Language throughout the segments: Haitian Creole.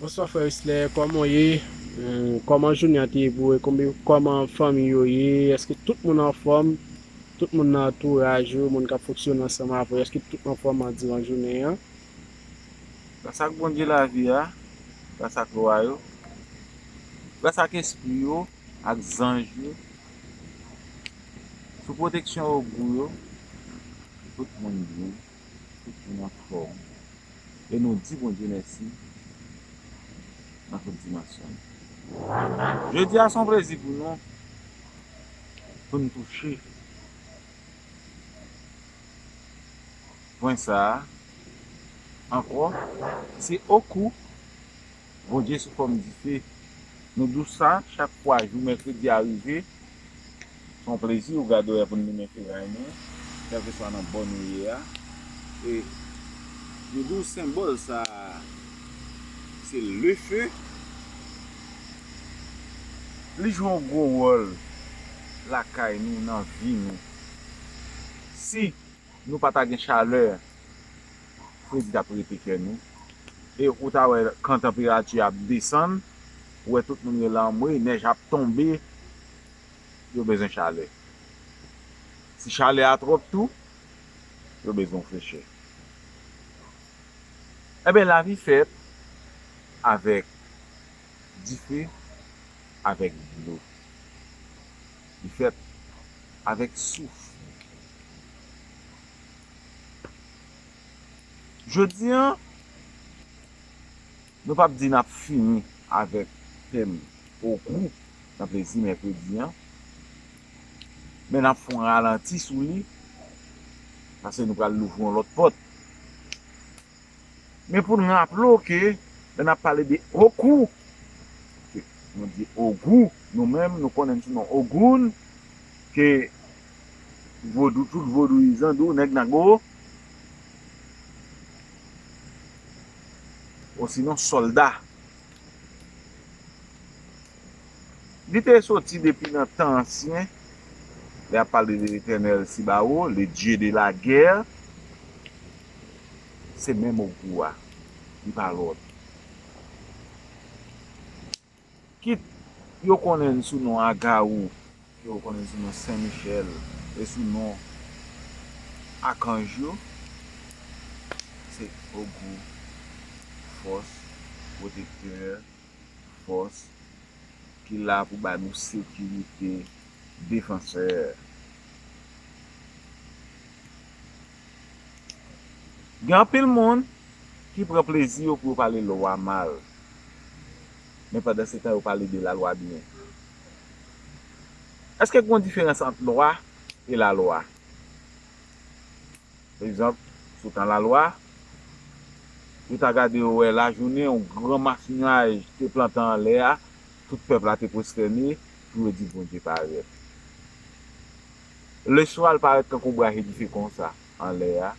Bonswa frè Wisler kòman w ye kòman jounen an te ye pou ou e kòman fanmi yo ye èske tout moun anfòm tout moun nan antouraj ou moun kap fonksyone ansanm avè w èske tout anfòm diran jounen an. Gras ak Bondye lavi a, gras ak lwa yo, gras ak espri yo, ak zanj yo, sou pwoteksyon ogou yo, tout moun byen. tout moun an fòm e nou di Bondye mèsi nan tout dimansyon l. Jodi a se yon plezi pou nou pou n touche pwen sa a ankò se okou Bondye sou fòm dife. Nou dous sa, chak fwa jou mèkredi a rive, se yon plezi ou gade wè pou n limen feray nou, kèlkeswa nan bò nou ye a. E yo di w senbòl sa a se le feu. Li jwe yon gwo wòl lakay nou, nan vi nou. Si. Nou pa ta gen chalè fredi tap rete kè nou e ou ta wè kan tanperati a ap desann ou wè tout moun rele anmweyy nèj ap tonbe yo bezwen chalè si chalè a twòp tou yo bezwen yon frechè enben lavi fèt avèk dife avèk dlo. Li fèt avèk souf. Jodi an, nou pap di n ap fini avèk tèm Ogou nan Plezi Mèkredi an, men n ap fon ralanti sou li, pase nou pral louvri yon lòt pòt. Men pou n raple w ke lè n ap pale de Okou, ke nou di Ogou, nou menm nou konnen l sou non Ogoun, ke vodou, tout vodouyizan di w nèg Nago, osinon sòlda. Li te soti depi nan tan ansyen, lè y ap pale de Letènèl si ba ou, le Dieu de la guerre, se menm Ogou a, li pa lòt. Kit yo konnen n sou non Agawou, kit yo konnen n sou non Sen Michèl, e sou non Akanj yo, se Ogou, Fòs, Pwotektè. fòs ki la pou ba nou sekirite defanseur gen anpil moun ki pran plezi yo pou yo pale lwa mal men pandan se tan yo pale de la lwa byen eske gon diferans ant lwa e la lwa. Egzanp, sou tan Lalwa, yo ta gade yo wè lajounen yon gran mas nyaj te plantan anlè a, tout pèp la te pwostène pou yo di Bondye parèt. Leswa l parèt tankou braje dife konsa anlè a,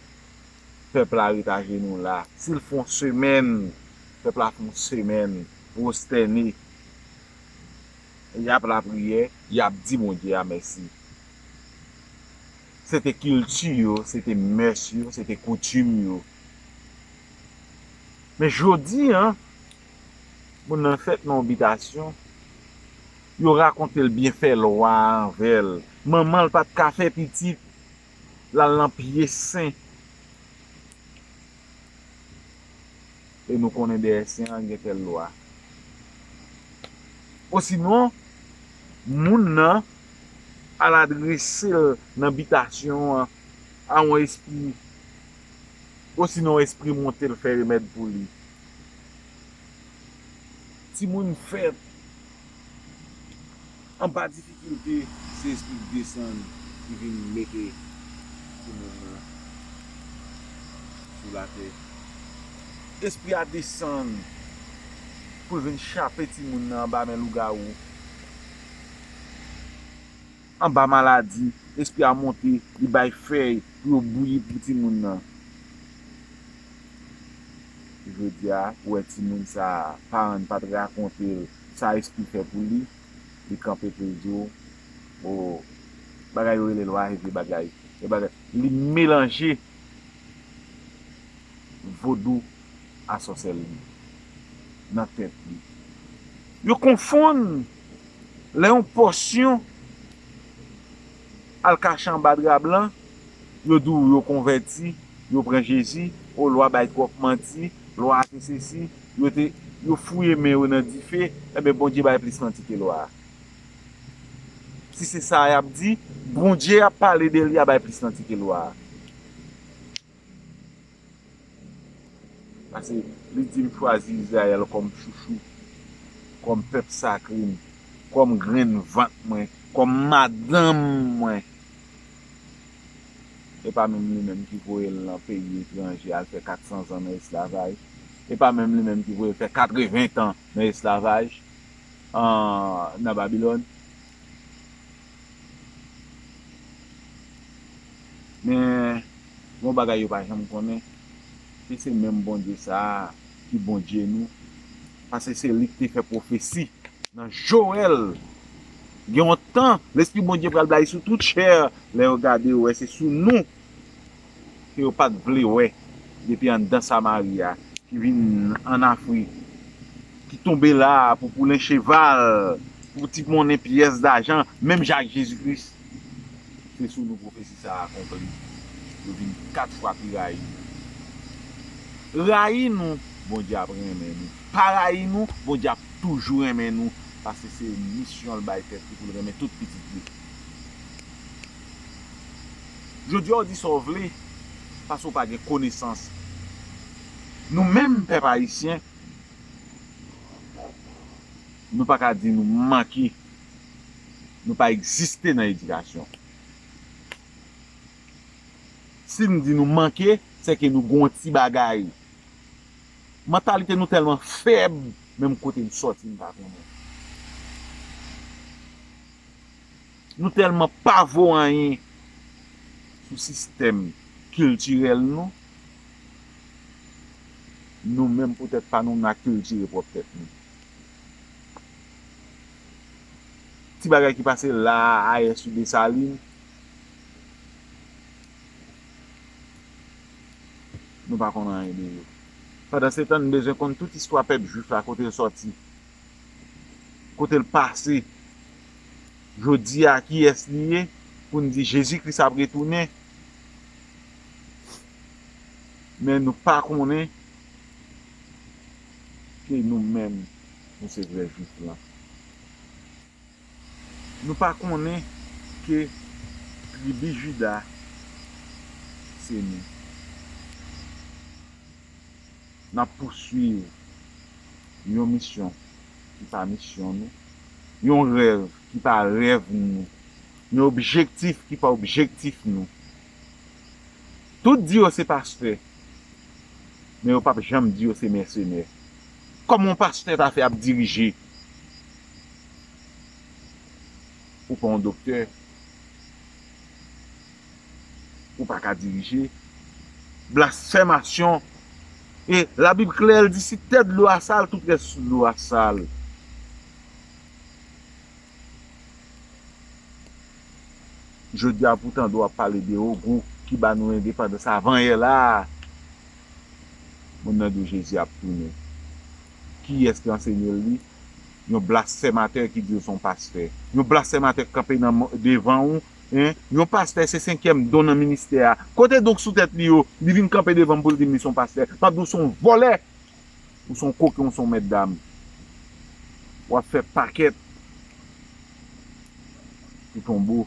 pèp la ret ajenou la. Si l fè yon semèn, pèp la fè yon semèn pwostène, y ap lapriyè, y ap di Bondye a mèsi. Se te kilti yo, se te mès yo, se te koutim yo. Men jodi an, moun nan fèt nan yon bitasyon, yo rakonte l byenfè lwa a anvè l. Manman l pa t ka fè pitit, l al nan pye sen. E nou konnen dèyè sen an gen tèl lwa. Osinon, moun nan al adrese l nan bitasyon an a yon espri, osinon yon espri monte l fè remèd pou li. Timoun fèt. Anba difikilte se espri k desann ki vin mete timoun nan sou latè. Espri a desann pou l vin chape timoun nan anba men lougawou. Anba maladi, espri a monte li bay fèy pou yo bouyi pou timoun nan. Jodia ou wè timoun sa a paran n pa t rakonte l Sa espri fè pou li, li kanpe pou l di w oo bagay yo rele lwa e vye bagay e bagay li melanje vodou a sòsèlri nan tèt li. Yo konfonn lè yon pòsyon Al kache anba dra blan Yo di w yo konvèti Yo pran Jezi O lwa bay twòp manti Lwa a te sesi Yo te Yo fouye men yo nan dife Enben Bondye bay plis manti ke lwa a Si se sa a y ap di Bondye y ap pale de li a bay plis manti ke lwa a. Pase li di m chwazi Izrayèl kòm chouchou, kòm pèp sakre m, kòm grenn vant mwen, kòm madanm mwen. E pa menm li menm ki voye l nan peyi etranje al fè katsanzan nan esklavaj. E pa menm li menm ki voye l fè katreventan nan esklavaj nan Babilòn. Men, gen yon bagay yo pa janm konnen, ke se menm Bondye sa a ki Bondye nou, paske se li ki te fè pwofesi nan Joel, Gen yon tan, Lespri Bondye pral blayi sou tout chè, lè yo gade yo wè se sou nou. ke yo pat vle wè depi anndan Samari a. Ki vin ann Afrik, ki tonbe la a pou poulen cheval, pou ti monnen pyès dajan, menm jan ak Jezi Kris. Se sou nou pwofesi sa a akonpli. Yo vin kat fwa pi rayi nou. Rayi nou, Bondye ap renmen nou. Pa rayi nou, Bondye ap toujou renmen nou, paske se misyon l bay tèt li pou l renmen tout pitit li. Jodi a w di sa w vle paske w pa gen konesans. Nou menm pèp ayisyen, nou pa ka di nou manke, nou pa egziste nan edikasyon. Si n di nou manke, se ke nou gen yon ti bagay. Mantalite nou tèlman fèb, menm kote li sòti n pa konnen. Nou tèlman pa vo anyen sou sistèm kiltirèl nou, nou menm poutèt pa nou n a kiltire pwòp tèt nou. Ti bagay ki pase la a ayè sou Desalin, nou pa konn anyen de yo. Pandansetan n bezwen konn tout istwa pèp jwif la kote l sòti. kote l pase jodi a kiyès li ye pou n di Jezi Kris ap retounen men nou pa konnen ke nou menm nou se vrè jwif lan. Nou pa konnen ke tribi Juda se nou? N ap pouswiv yon misyon ki pa misyon nou, yon rèv ki pa rèv nou, yon objektif ki pa objektif nou. Tout di yo se pastè, men yo p ap janm di yo se mèsenè. Kòman yon pastè ta fè ap dirije Ou pa yon doktè. Ou pa ka dirije. Blasfèmasyon. E la Bib klè l di si tèt dlo a sal tout rès dlo a sal. Jodi a poutan dlo ap pale de ogou ki ba nou endepandans avan yè la. Moun nan di w Jezi ap tounen. Kiyès ki ansenye l li? Yon blasfèmatè ki di l se yon pastè. Yon blasfèmatè k kanpe nan devan ou, hein? Yon pastè se senkyèm don nan ministè a. Kote don k sou tèt li yo? Li vin kanpe devan m pou l di m li se yon pastè. M ap di w se yon vòlè! Ou se yon koken, ou se yon mètdam. W ap fè pakèt. Pou tonbo.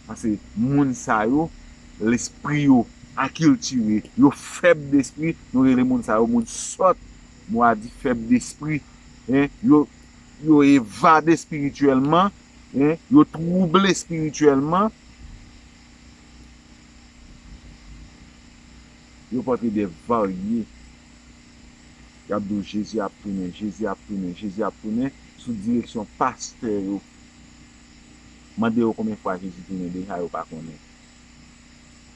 Pase moun sa yo lespri yo akiltire. Yo fèb despri. Nou rele moun sa yo moun sòt. Mo a di fèb despri. Yo evade espirityèlman. Yo twouble espirityèlman. Yo pòte de varye. yap di w jezi ap tounen jezi ap tounen jezi ap tounen sou direksyon pastè yo mande yo konbyen fwa jezi tounen deja yo pa konnen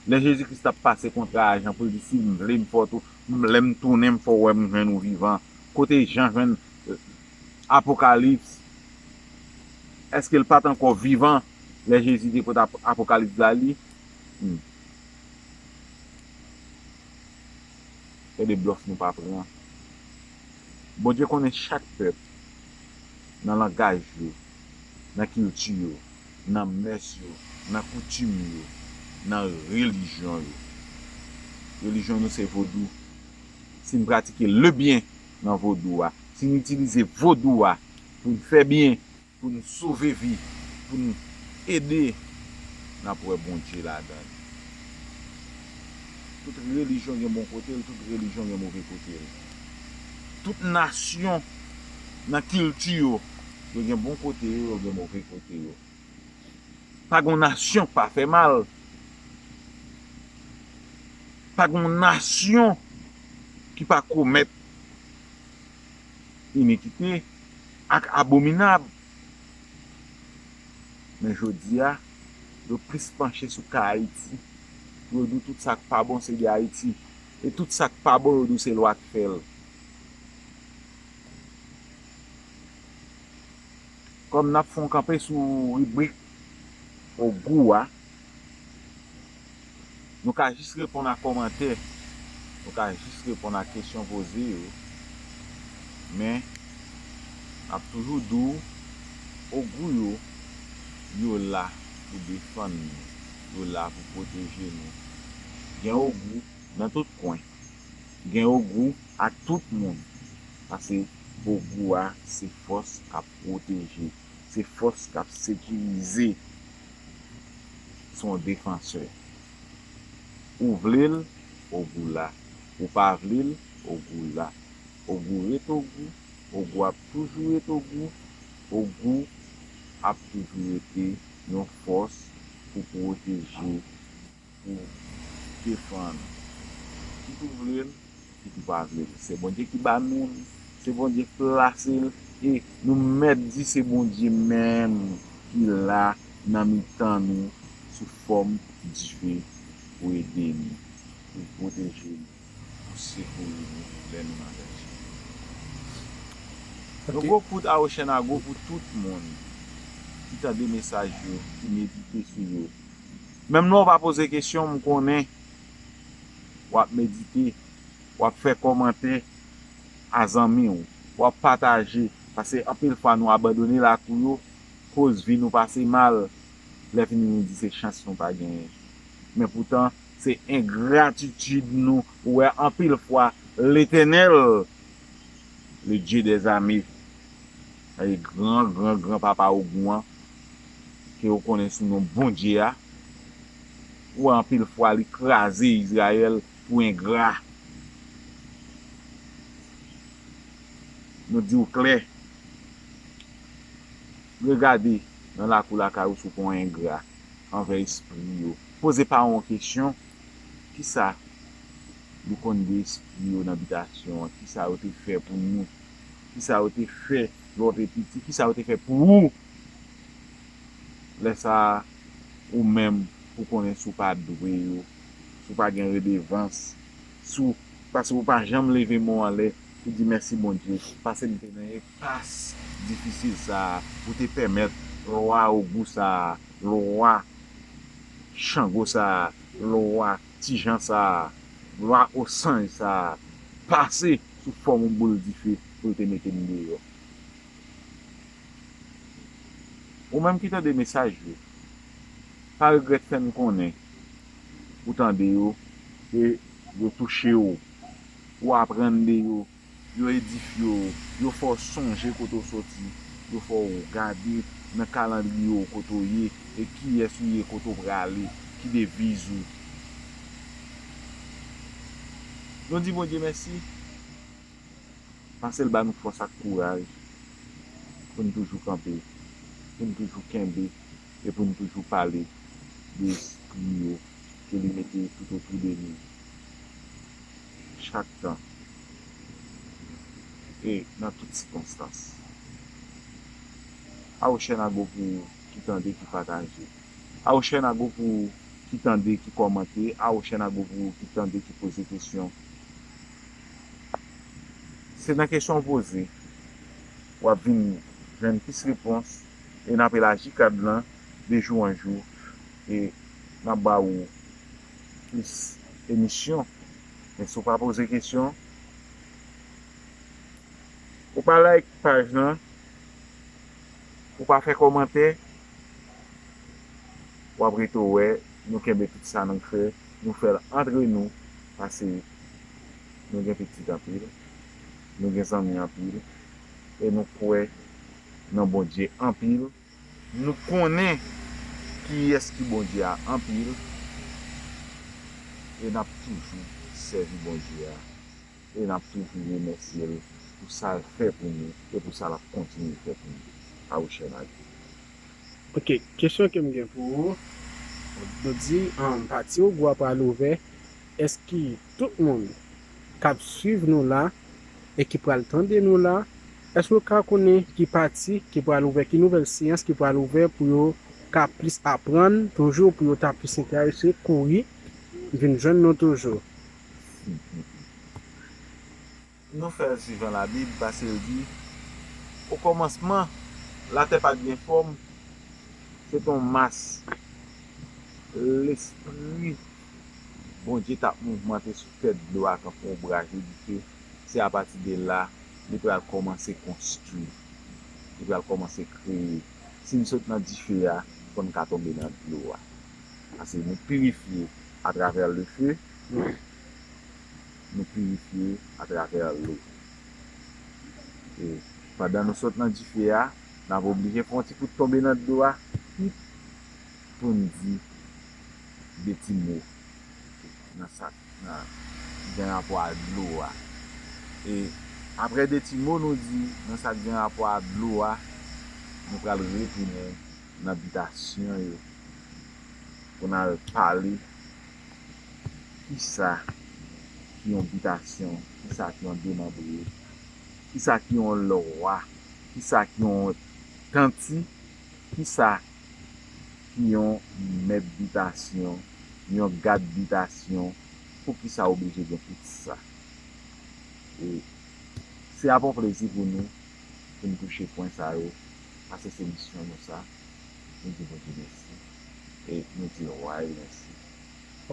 lè jezi kris tap pase kontra a jan pou l di si m vle m fè w tou lè m tounen m fè w wè m jwenn ou vivan kote jan jwenn apokalips èske l pat ankò vivan lè jezi te pot apokalips la li humm. Gade blòf nou pa pran. Bondye konnen chak pèp nan langaj yo, nan kilti yo, nan mès yo, nan koutim yo, nan relijyon yo. Relijyon nou se vodou. Si n pratike lebyen nan vodou a, si n itilize vodou a pou n fè byen, Pou n sove vi, pou n ede, n ap wè Bondye ladan l. Tout relijyon gen bon kote l, tout relijyon gen move kote l. Tout nasyon nan kilti yo, yo gen bon kote yo, yo gen move kote yo. Pa gen yon nasyon k pa fè mal. Pa gen yon nasyon ki pa komèt inikite. Ak abominab, men jodi a, yo plis panche sou ka Ayiti, pou yo di w tout sa k pa bon se de Ayiti, e tout sa k pa bon yo di w se lwa k fè l. Kòm n ap fè yon kanpe sou ribrik Ogou a, Nou ka jis reponn a kòmantè, nou ka jis reponn a kesyon poze yo, men n ap toujou di w, ogou yo, yo la pou defann nou, yo la pou pwoteje nou. Gen ogou nan tout kwen, gen ogou ak tout moun, pase ogou a se fòs k ap pwoteje, se fòs k ap sekirize. son defansè ou vlel ogou la ou pa vlel ogou la ogou ret ogou ogou ap toujou ret ogou ogou ap toujou rete yon fòs pou proteje pou defann ki tou vle l ki tou pa vle l se bondye ki ba nou l se bondye k plase l e nou mèt di se bondye menm ki la nan mitan nou sou fòm dife pou ede nou pou pwoteje nou pou sekouri nou lè nou nan danje yon gwo kout awochenago pou tout moun ki tande mesaj yo ki medite sou yo. Menm lè w pa poze kesyon, m konnen w ap medite, w ap fè kòmantè a zanmi w, w ap pataje, pase anpil fwa nou abandone lakou yo koz vi nou pase mal, lèfini nou di se chans nou pa genyen. Men poutan se engratitid nou ou wè anpil fwa Letènèl, le Dye dè zame, gran gran gran papa ogou an, ke ou konnen sou non Bondye a, ou wè anpil fwa li kraze Izrayèl pou engra. Nou di ou klè, regade nan lakou lakay ou si ou pa yon engra anvè espri yo. Poze paran w kesyon, kisa nou konn de espri yo nan bitasyon an? Kisa yo te fè pou nou? Kisa yo te fè lè w te piti? Kisa yo te fè pou ou Lè sa a, ou menm pou konnen si w pa dwe yo, si w pa gen redevans, si w, paske ou pa janm leve men w anlè pou di mèsi Bondye, pase m te nan enpas difisil sa a, ou te pèmèt lwa Ogou sa a, lwa Chango sa a, lwa Ti Jan sa a, lwa Osanj sa a pase sou fòm yon boul dife pou l te mete m deyò. Ou menm ki tande mesaj yo, pa regrèt fè n konnen ou tande yo, ke yo touche w, ou aprann de yo, yo edifye w, yo fè w sonje kote ou soti, yo fè w gade nan kalandriye w kote ou ye e kiyès ou ye kote ou prale, ki deviz ou. Nou di Bondye mèsi. Pase l ba nou fòs ak kouraj pou n toujou kanpe, pou n toujou kenbe e pou n toujou pale de espri yo ke li mete toutotou de nou chak tan e nan tout sikonstans. Awochènago pou ou ki tande, ki pataje. Awochènago pou ou ki tande, ki kòmante. Awochènago pou ou ki tande, ki poze kesyon. Se nan kesyon w poze w ap vin jwenn plis repons e n ap elaji kad lan de jou an jou e n ap ba ou plis emisyon. Men si w pa poze kesyon, ou pa like paj lan, ou pa fè kòmantè, w ap rete w wè nou kenbe tout sa nou fè, nou fè l antre nou pase. nou gen pitit anpil, nou gen zanmi anpil, e nou kwè nan Bondye anpil, nou konnen kiyès ki Bondye a anpil, e n ap toujou sèvi Bondye a, e n ap toujou remèsye l pou sa l fè pou nou e pou sa l ap kontinye fè pou nou. Awouchèn a di. Ok, kesyon ke m gen pou ou, nou di pati ou gwa pral ouvè, Eske tout moun kap swiv nou la e ki pral tande nou la eske yo ka konnen ki pati ki pral ouvè ki nouvèl seyans ki pral ouvè pou yo ka plis aprann toujou pou yo ta plis enterese kouri vin jwenn nou toujou. Nou fè l si jan Labib pase l di, Okòmansman, latè pa t gen fòm, se te yon mas. Lespri Bondye t ap mouvmante sou tèt dlo a tankou yon braj li di ke se apati de la li pral kòmanse konstwi, li pral kòmanse kreye. Si n sot nan dife a, fò n ka tonbe nan dlo a. Paske nou pirifye atravè lefe. nou pirifye atravè lou. E, pandan nou sot nan dife a, n ap oblije pran yon ti kout tonbe nan dlo a, kit pou n di de ti mo nan sa k gen rapò a dlo a. E, apre de ti mo nou di nan sa k gen rapò a dlo a, nou pral retounen nan bitasyon yo pou n al pale Kisa ki yon bitasyon? Kisa ki yon demanbre? Kisa ki yon lwa? Kisa ki yon tanti? Kisa ki yon mèt bitasyon? Yon gad bitasyon? Poukisa ou blije gen tout sa? E se ap yon plezi pou nou pou n touche pwen sa yo, pase se misyon nou sa. Nou di Bondye mèsi. e nou di Roi yo mèsi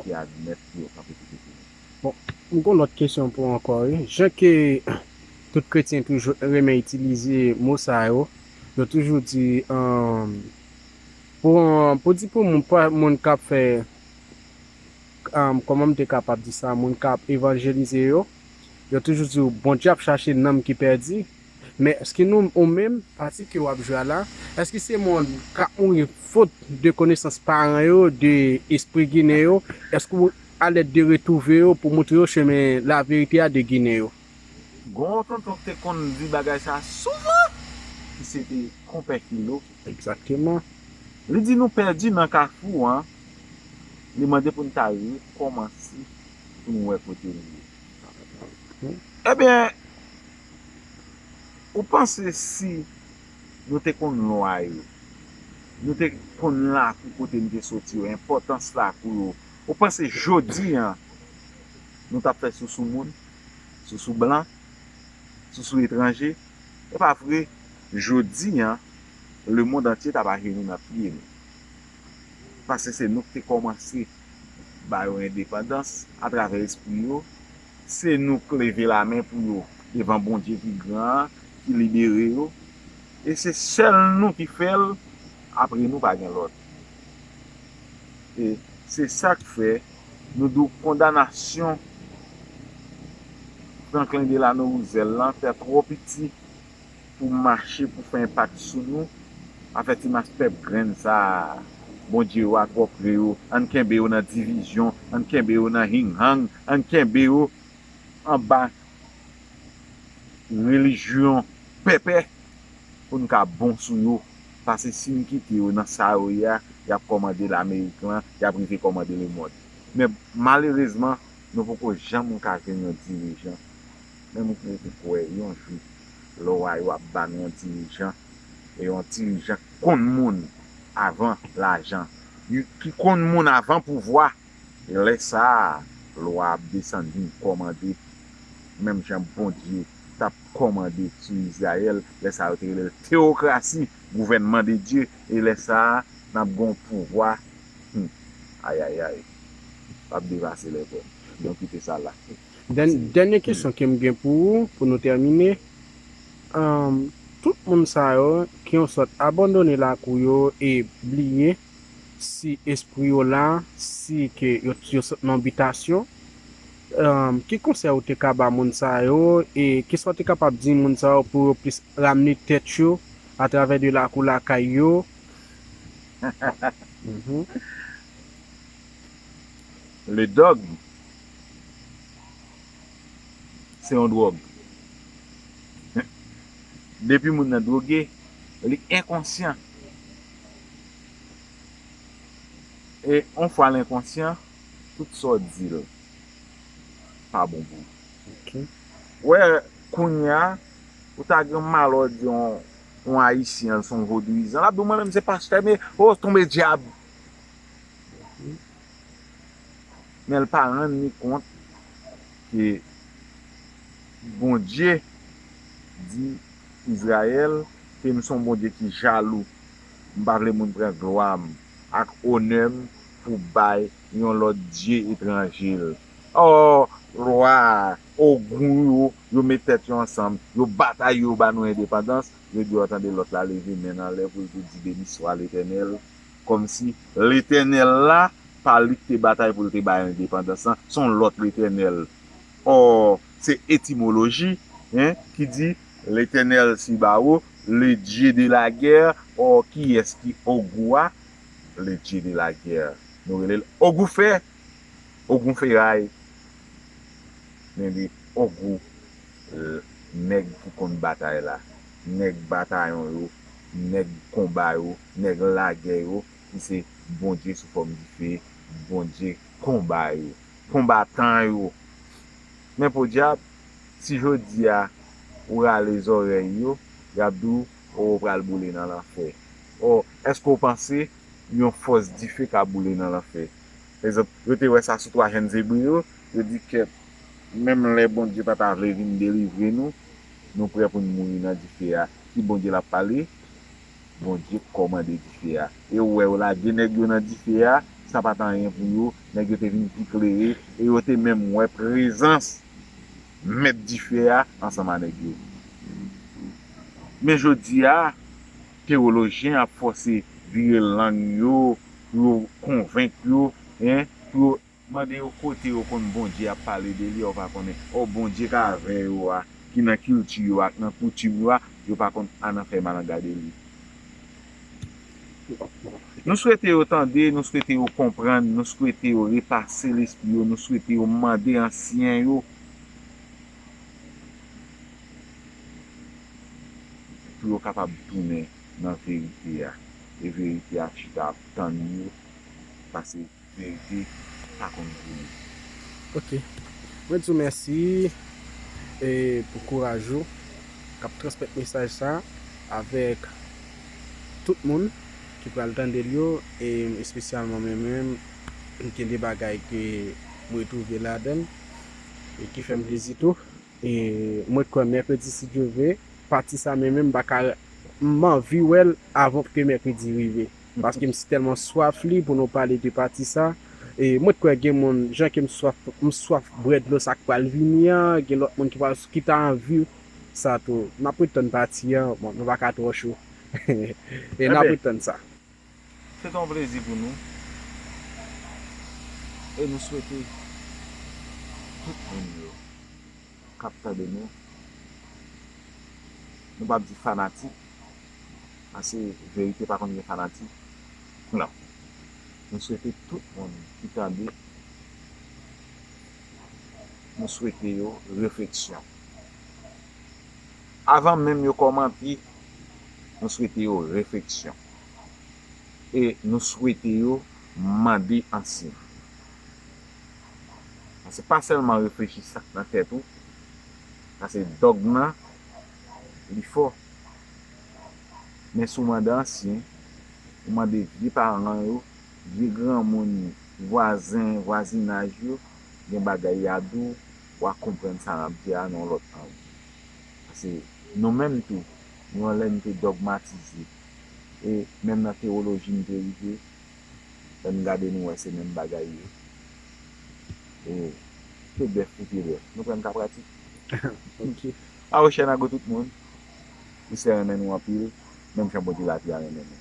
ki admèt pou yo kanpe kote pou nou. Bon, m gon lòt kesyon pou ou ankò wi. Jan ke tout kretyen toujou renmen itilize mo sa yo, yo toujou di pou pou di pou moun k'ap fè kòman m te kapab di sa moun k'ap evanjelize yo, yo toujou di ou Bondye ap chache nanm ki pèdi, Men èske nou ou menm, pati ke wap jwe a la, èske se moun kap mouri fot de konesans paran yo, de espri ginen yo, èske ou alèd de retrouve yo pou moutre yo chemen la verite a de ginen yo? Gon yon tonton k te konn di bagay sa souvan ki se te Konpè Kilo. Egzakteman. Li di nou pèdi nan kafou an, li mande pou n ta rekòmanse pou nou wè kote nou ye. Ebyen, Ou panse si Nou te konn lwa yo, Nou te konn lakou kote Nou te soti yo, enpòtans lakou yo, ou panse Jodi an Nou tap fè sousou moun, sousou blan, sousou etranje, e pa vre Jodi an le mond antye tap ajeni nan pye Nou, pase se Nou ki te kòmanse ba yo endepandans atravè espri yo, Se nou k leve lamen pou yo devan Bondye ki gran an ki libere yo e se sèl nou ki fè l apre nou pa gen lòt e se sa k fè nou di w kondanasyon Franklin Delano Roosevelt lan te twò piti pou mache pou fè enpak sou nou afè ti mas pèp grenn sa Bondye yo ak wòk vre yo ann kenbe yo nan divizyon ann kenbe yo nan hing hang ann kenbe yo anba relijyon pèpè pou n ka bon sou yo pase si n kite yo nan sa yo ye a y ap kòmande lamerik lan y ap rive kòmande lemond men malerezman nou poko janm ka jwenn yon dirijan Menm ou pou ou kwè yon jou lò wa yo ap ba nou yon dirijan e yon dirijan ki konn moun avan lajan you ki konn moun avan pouvwa lè sa a lwa ap desann vin kòmande menm jan Bondye t ap kòmande sou Izrayèl lè sa a yo te rele l teyokrasi gouvènman de Dye e lè sa a n ap gen yon pouvwa humm ayayay l ap devase lè vre m donk kite sa la. Dènye kesyon ke m gen pou ou pou nou tèmine, tout moun sa yo ki yon sòt abandone lakou yo e bliye si espri yo la, si ke yo sot nan bitasyon, ki konsèy ou te ka ba moun sa yo e kisa ou te kapab di moun sa yo pou yo plis ramne tèt yo a travè de lakou lakay yo? Le dogme. Se yon dròg. Depi moun nan droge, li enkonsyan. E yon fwa l enkonsyan, tout sa w di l pa bon pou li. Ou wè kounye a, ou ta gen mal wè w di yon Ayisyen se yon vodouyizan, l ap di w mwen menm se pastè, o, tonbe dyab. men l pa rann li kont ke Bondye di Izrayèl ke m s on Bondye ki jalou, m pa vle moun pran glwa m ak onè m pou bay yon lòt dye etranje l. Ò, lwa a, o gou yo, yo met tèt yo ansanm, yo batay yo ba nou endepandans, yo di ò tande lòt la leve men n anlè pou l tou di Beniswa Letènèl, Kòmsi Letènèl la, pa li k te batay pou l te bay endepandans lan, se yon lòt Letènèl. Ò, se etimoloji, hein, ki di, L'Eternel Sibao, le Dieu de la guerre, ò, kiyès ki Ogou a? Le Dieu de la guerre. Nou rele l Ogou fè, Ogun feray. Men li Ogou, nèg ki konn batay la, nèg batayon yo, nèg konba yo. nèg lagè yo ki se Bondye sou fòm dife, Bondye konba yo, konbatan yo. Men podyab, si jodi a ou rale zòrèy yo, y ap di w, O, ou pral boule nan lanfè. O, èske ou panse yon fòs dife ka boule nan lanfè? Pa egzanp, yo te wè sa sou twa jenn Ebre yo, yo di, Kèt, menm lè Bondye pa ta vle vin delivre nou, nou prè pou n mouri nan dife a. Ki Bondye l ap pale? Bondye k kòmande dife a. E ou wè yo lage nèg yo nan dife a, sa pa t anyen pou yo, nèg yo te vin pi klere, e yo te menm wè prezans mèt dife a ansanm a nèg yo. Men jodi a, tewolojyen ap fòse vire lang yo pou yo konvenk yo, pou yo. Mande yo kote yo konn Bondye ap pale de li, yo pa konnen. Ò Bondye ka avè yo a, ki nan kilti yo ak nan koutim yo a, yo pa konn a nan fè malanga de li. Nou swete yo tande, nou swete yo konprann, nou swete yo repase lespri yo, nou swete yo mande ansyen yo pou yo kapab tounen nan verite a, e verite a ap chita ap tann yo, pase. Verite pa konn kouri. Ok mwen di w mèsi pou kouraj ou kap transmèt mesaj sa avèk tout moun ki pral tande l yo e espesyalman mwen menm gen de bagay ke m retwouve ladan l e ki fè m plezi tou e mwen kwè mèkredi si Dye vle pati sa mwen menm m pa ka m anvi wè l avan ke mèkredi rive. Paske m sitèlman swaf li pou nou pale de pati sa. E mwen t kwè gen moun jan ke m swaf m swaf bwè dlo sa k pral vini an, gen lòt moun ki pral ki ta anvi sa tou. N ap ret tann pati an, bon nou pa ka twò cho. E n ap ret tann sa. Se t on plezi pou nou. E nou swete tout moun yo k ap tande nou, nou p ap di fanatik. Pase verite pa konn gen fanatik koulanm nou swete tout moun ki tande nou swete yo refleksyon avan menm yo kòmante nou swete yo refleksyon e nou swete yo mande ansin pase pa sèlman reflechi sak nan tèt ou pase dòg nan li fò. Men si w mande ansyen, ou mande vye paran yo, vye granmoun yo, vwazen, vwazinaj yo, gen bagay y a di w, w a konprann sa y ap di a nan yon lòt ang. Pase nou menm tou, nou an lè n te dògmatize. E menm nan tewoloji n te rive, lè n gade nou wè se menm bagay yo. E ke bèf pou pye bèf? Nou kwè n ka pratik? Ok. Aw chè nago tout moun ou sè renmen nou anpil menm jan Bondye lavi a renmen nou.